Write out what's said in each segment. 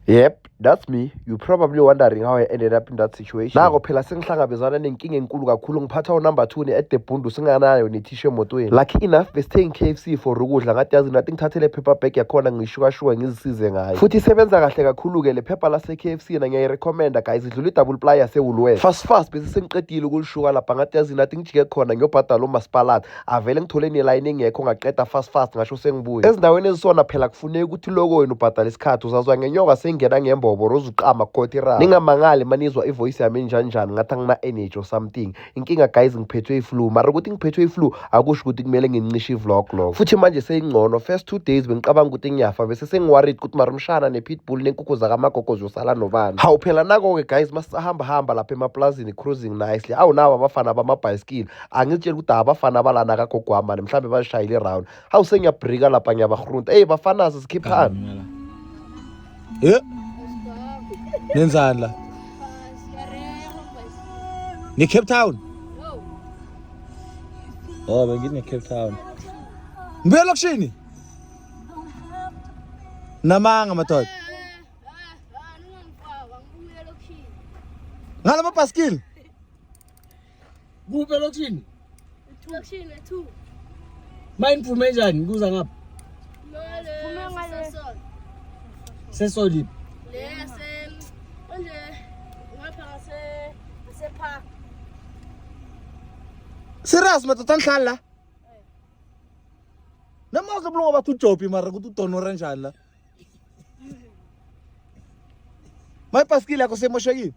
Yep, that's me. You probably wondering how I ended up in that situation. Nako phela sengihlangabezana nenkinga enkulu kakhulu ngiphatha unumber 2 ne-edebhundu singanayo nethishu emotweni. Lucky enough besithengi KFC for ukudla ngathi yazi nathi ngithathele paper bag yakhona ngishukashuka ngizisize ngayo. Futhi isebenza kahle kakhulu-ke le phepha lase-KFC na ngiyayirecommenda guys idlula i-double ply yase-Woolworths. Fast fast bese sengiqedile ukulishuka lapha ngathi yazi nathi ngijike khona ngiyobhadala umasipalata. avele ngithole nelayini engekho ngaqeda fast fast ngasho sengibuye ezindaweni ezisona phela kufuneka ukuthi loko wena ubhadale isikhathi uzazwa ngenyoka sengena ngembobo rozuqama khothi ra ningamangali manizwa ivoice yami enjanjani ngathi angina-energy or something inkinga guys ngiphethwe iflu mara ukuthi ngiphethwe iflu akusho ukuthi kumele ngincishe ivlog loko futhi manje seyingcono first two days bengicabanga ukuthi ngiyafa bese sengiworried ukuthi mara umshana ne-pitbull nenkukhu zakamagogo ziyosala nobani hawu phela nako-ke guys masisahamba hamba lapha emapulazini cruising nicely awu nawo abafana bamabhayisikili angizitsheli ukuthi abafana abalana kagogwamani mhlawumbe bazishayile iround hawu sengiyabrika lapha ngiyabahrunta eyi bafanazi sikhiphani e nenzani la ne-cape town o oh, bengine-cape town ngibuya elokishini namanga madoda ngala mabhaskili Kuphi elokishini? Elokishini ethu. Mine phume njani kuza ngapha? Phume ngale. Sesolip. Le se onje ngapha ngase ngase park. Serious madoda ngihlala la. Noma uzobulunga bathi uJobi mara ukuthi udonora njani la. My paskile yakho semoshekile.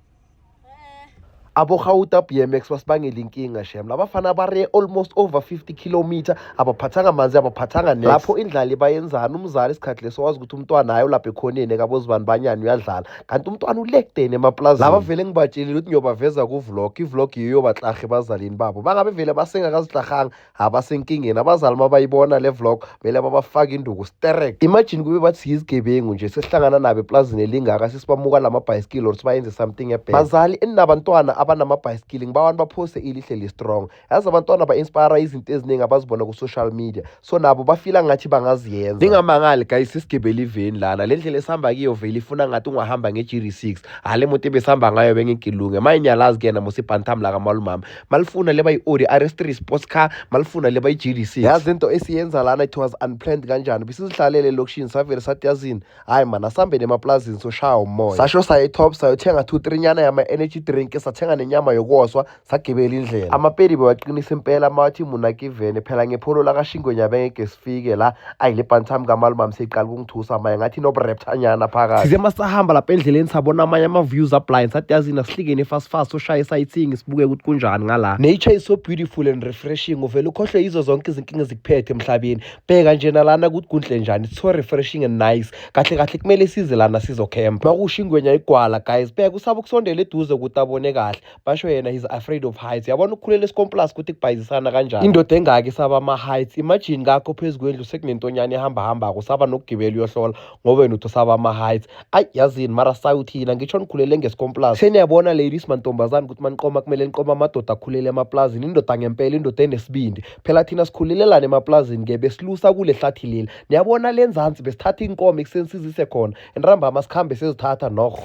abogauta bmx basibangela inkinga shem labafana bare almost over 50 kilometer abaphathanga manzi abaphathanga next lapho indlali bayenzani umzali isikhathi leso wazi ukuthi umntwana hayi ulapha ekhoneni ekabozibani banyani uyadlala kanti umntwana ulekudeni emaplazini laba vele ngibatshelile ukuthi ngiyobaveza kuvlog ivlog yiyo baklahe bazalini babo bangabe vele basengakaziklahanga abasenkingeni abazali uma bayibona le vlog kumele babafake induku sterek imagine kube bathi siyizigebengu nje sesihlangana nabo eplazini elingaka sesibamuka la mabhayisikili or sibayenze something ebhele bazali eninabantwana abanamabhayisikili ngiba abantu baphose ilihle li-strong yazi abantwana ba-inspire izinto eziningi abazibona ku-social media so nabo bafila ngathi bangaziyenza ningamangali guys sisigibele iveni lana le ndlela esihamba kiyo vele ifuna ngathi ungahamba nge-gr six hale moto ebesihamba ngayo bengigilunge mayinyalazi kuyena mosibhantam la kamalumama malifuna leba i-audi rs3 sports car malifuna leba i-gdc yazi into esiyenza lana it was unplanned kanjani bisizihlalele elokishini savele sathi yazini hhayi mani asihambeni emaplazini soshaya umoya sasho saye top sayothenga two three nyana yama-energy drink sathenga nenyama yokwoswa sagibela indlela amapedi bewaqinisa impela mawathi munakivene phela ngepholo lakashingwenyabengeke sifike la ayi le bhanti sami kamalumamu seyiqala ukungithusa maye ngathi inobrepthanyana phakathi size masahamba lapha endleleni sabona amanye ama-views ablind sathi yazini asihlingeni fast fast ushaye isayithingi sibuke ukuthi kunjani ngala nature is so beautiful and refreshing uvele ukhohlwe yizo zonke izinkinga ezikuphethe emhlabeni bheka nje nalana ukuthi kunhle njani it's so refreshing and nice kahle kahle kumele size lana sizokhempa makusho ingwenya igwala guys bheka usaba ukusondela eduze ukuthi abone kahle basho yena he's afraid of heights yabona ukukhulela esikomplas ukuthi kubhayizisana kanjani indoda engaki saba ama-heights imagine kakho phezu kwendlu sekunentonyana ehambahambako saba nokugibela uyohlola ngoba wena uthi usaba ama-heights ayi yazini mara sayuthina ngitsho nikhulele ngesikomplas seniyabona ladies mantombazane ukuthi maniqoma kumele niqoma amadoda akhulele emaplazini indoda ngempela indoda enesibindi phela thina sikhulelelana emaplazini ke besilusa kule hlathi leli niyabona le nzansi besithatha inkomo ekuseni sizise khona enrambama sikhambe sezithatha nokho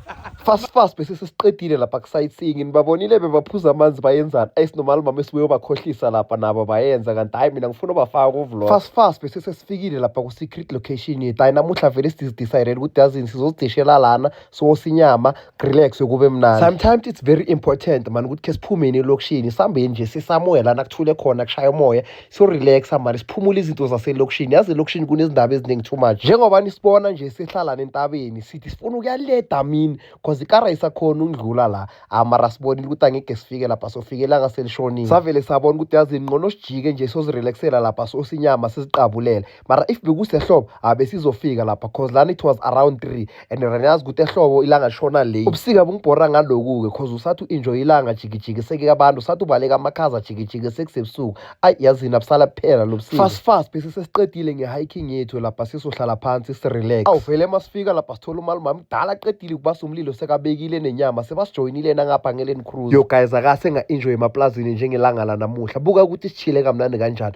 fast fast bese sesiqedile lapha ku-sightseeing nibabonile bebaphuza amanzi bayenzani ayisinomali mama esibuye ubakhohlisa lapha nabo bayenza kanti hhayi mina ngifuna ubafaka kuvlog fast fast bese sesifikile lapha ku-secret location yethu hhayi namuhla vele sididicirele ukuthi yazini sizozidishela lana siwosa inyama kurelax kube mnandi sometimes it's very important mani ukuthi khe siphumeni elokishini sihambeni nje sisamoya lana kuthule khona kushaya umoya sorelaxa mani siphumule izinto zaselokishini yazi elokishini kunezindaba eziningi too much njengoba nisibona nje sihlalana entabeni sithi sifuna ukuyaleda mini cause ikara isakhona ukudlula la amara ah, sibonile ukuthi angeke sifike lapha sofikelanga selishonile savele sabona ukuthi yazi ngqono sijike nje sozirelaxela lapha sosinyama siziqabulela mara if bekusehlobo abesizofika lapha cause lana it was around three and raniyazi ukuthi ehlobo ilanga shona late ubusika bungibhora ngaloku-ke cause usathi u-enjoy ilanga jikijiki sekike abantu usathi ubaleka amakhaza jikijiki sekusebusuku ayi yazini abusala kuphela lo busika fast fast bese sesiqedile nge-hiking yethu lapha sizohlala phansi sirelax awuvele uma sifika lapha sithola umali umama mdala aqedile ukubasa umlilo sekabekile nenyama sebasijoyinile nangapha ngeleni cruise yo guys akase nga-enjoy emaplazini njengelanga lanamuhla buka ukuthi sishile kamnandi kanjani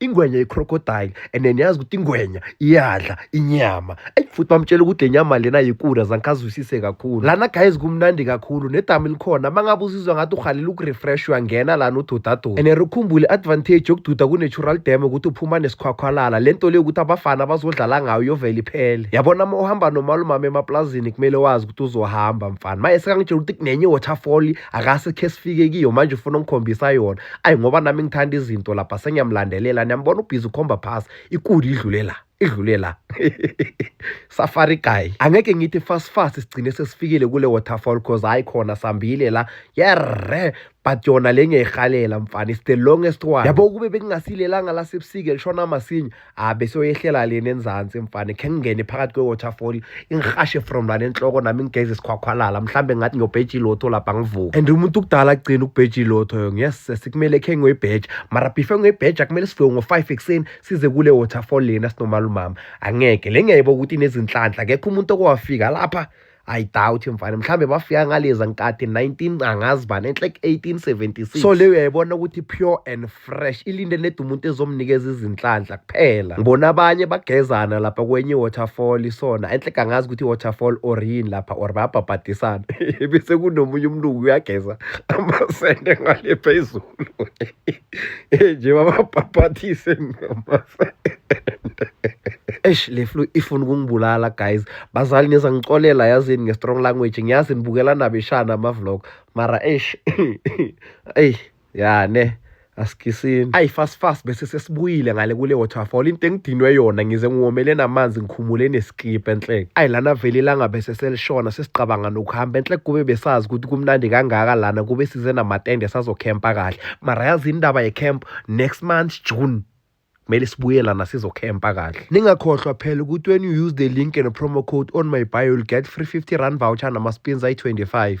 ingwenya i-crocodile and then yazi ukuthi ingwenya iyadla inyama eyi futhi bamtshela ukuthi le nyama lena yikula zangikazwisise kakhulu lana guys kumnandi kakhulu nedamu elikhona uma ngabe uzizwa ngathi uhalela ukurefresh uyangena lana ududaduda and rikhumbule i-advantage yokududa ku-natural dam ukuthi uphuma nesikhwakhwalala le nto leyo ukuthi abafana bazodlala ngayo yovele iphele yabona uma uhamba nomalumama emaplazini kumele wazi ukuthi uzohamba mfana maye sekangitshela ukuthi kunenye i-waterfall akasikhe sifike kiyo manje ufuna ungikhombisa yona ayi ngoba nami ngithanda izinto lapha sengiyamlandelela niyambona ubhizi ukhomba phasi ikuli idlule la idlule la safari guy angeke ngithi fast fast sigcine sesifikile kule waterfall cause hayi khona sambile la yerre but yona le ngiyayirhalela mfana is the longest one yabo kube bekungasilelanga lasebusike lishona masinya abe ah, soyehlela leni enzansi mfana khe ngingene phakathi kwe-waterfall ingihashe from lana enhloko nami ngigeze isikhwakhwalala mhlawumbe ngathi ngiyobheja ilotho lapha ngivuke and umuntu ukudala agcina ukubheja ilotho yo yes sikumele khe ngiyoyibheja mara before ngiyoyibheja kumele sivuke ngo-five ekuseni size kule waterfall lena sinomalumama angeke le ngiyayibo ukuthi inezinhlanhla kekho umuntu okowafika lapha I doubt mfana mhlambe bafika ngaleza nkathi 19 angazi bani enhle 1876 so leyo uyayibona ukuthi pure and fresh ilinde ned umuntu ezomnikeza izinhlanhla kuphela ngibona abanye bagezana lapha kwenye waterfall isona enhle kangazi ukuthi waterfall or yini lapha or bayabhabhadisana bese kunomunye umlungu uyageza amasende ngale phezulu nje bababhapathise mama eish le flu ifuna ukungibulala guys bazali niza ngixolela yazini nge-strong language ngiyazi nibukela nabeshana ama-vlog mara eish eyi ya ne asikisini ayi fast fast bese sesibuyile ngale kule waterfall into engidinwe yona ngize ngiwomele namanzi ngikhumule Xiphe enhleke. Ayi lana vele ilanga bese selishona sesicabanga nokuhamba enhleke kube besazi ukuthi kumnandi kangaka lana kube size namatende sazokhempa kahle. Mara yazi indaba yecamp next month June kumele sibuye lana sizokhempa kahle ningakhohlwa phela ukuthi when you use the link and promo code on my bio you'll get free 50 rand voucher nama-spins ayi-25 Thank